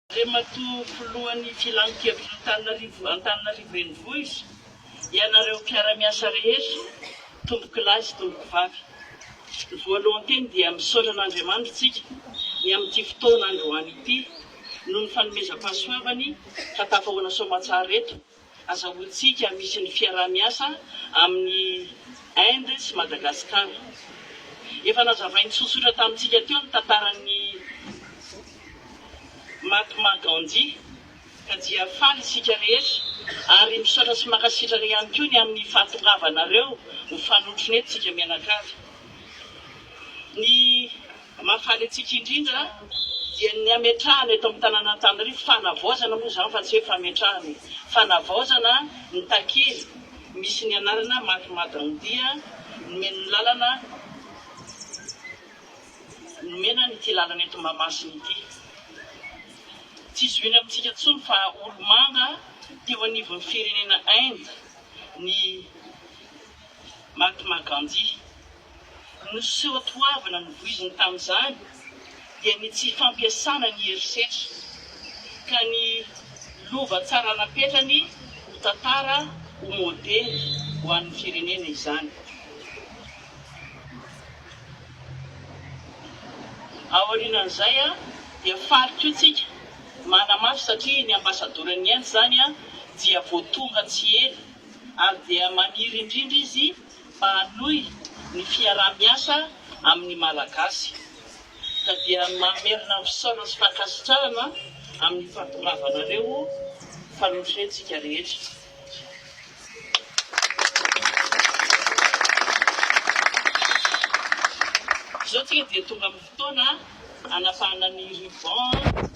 Andriamatoa Filohan'ny Filan-kevitr'Antananarivo Antananarivo Renivohitra, ianareo mpiara-miasa rehetra, tompokolahy sy tompokovavy. Ny voalohan-teny dia misaotra an'Andriamanitra isika ny amin'ity fotoana androany ity noho ny fanomezam-pahasoavany ka tafahoana soamatsara eto, Azahoantsika misy ny fiaraha-miasa amin'i Inde sy Madagascar. Efa nazavainy tsotsotra tamintsika teo ny tantaran'i Mahatma Gandhi ka dia faly isika rehetra ary misaotra sy mankasitraka ihany koa ny amin'ny fahatongavanareo ho fanotronentsika mianakavy. Ny. Ny mahafaly antsika indrindra dia ny hametrahana eto amin'ny tanàna Antanirivo, fanavaozana moa izany fa tsy hoe fametrahana e, fanavaozana ny takely misy ny anarana Mac Madran Dia nomeny ny lalana, nomena an' ity lalana eto Mahamasina ity. Tsy zohina amintsika intsony fa olomanga teo anivon'ny firenena Inde ny Mahatma Gandhi. no seho toavina novoiziny tamin'izany dia ny tsy fampiasana ny herisetra ka ny lova tsara napetrany ho tantara ho modely ho an'ny firenena izany. Aorianan'izay dia faly koa tsika manamafy satria ny ambassadoran'ny Inde izany dia vao tonga tsy ela ary dia maniry indrindra izy Mba hanohy ny fiaraha-miasa amin'ny Malagasy ka dia mamerina fisaorana sy fankasitrahana amin'ny fahatongava anareo fa nofentsika rehetra. Izao tsika dia tonga amin'ny fotoana hanapahana ny ruban.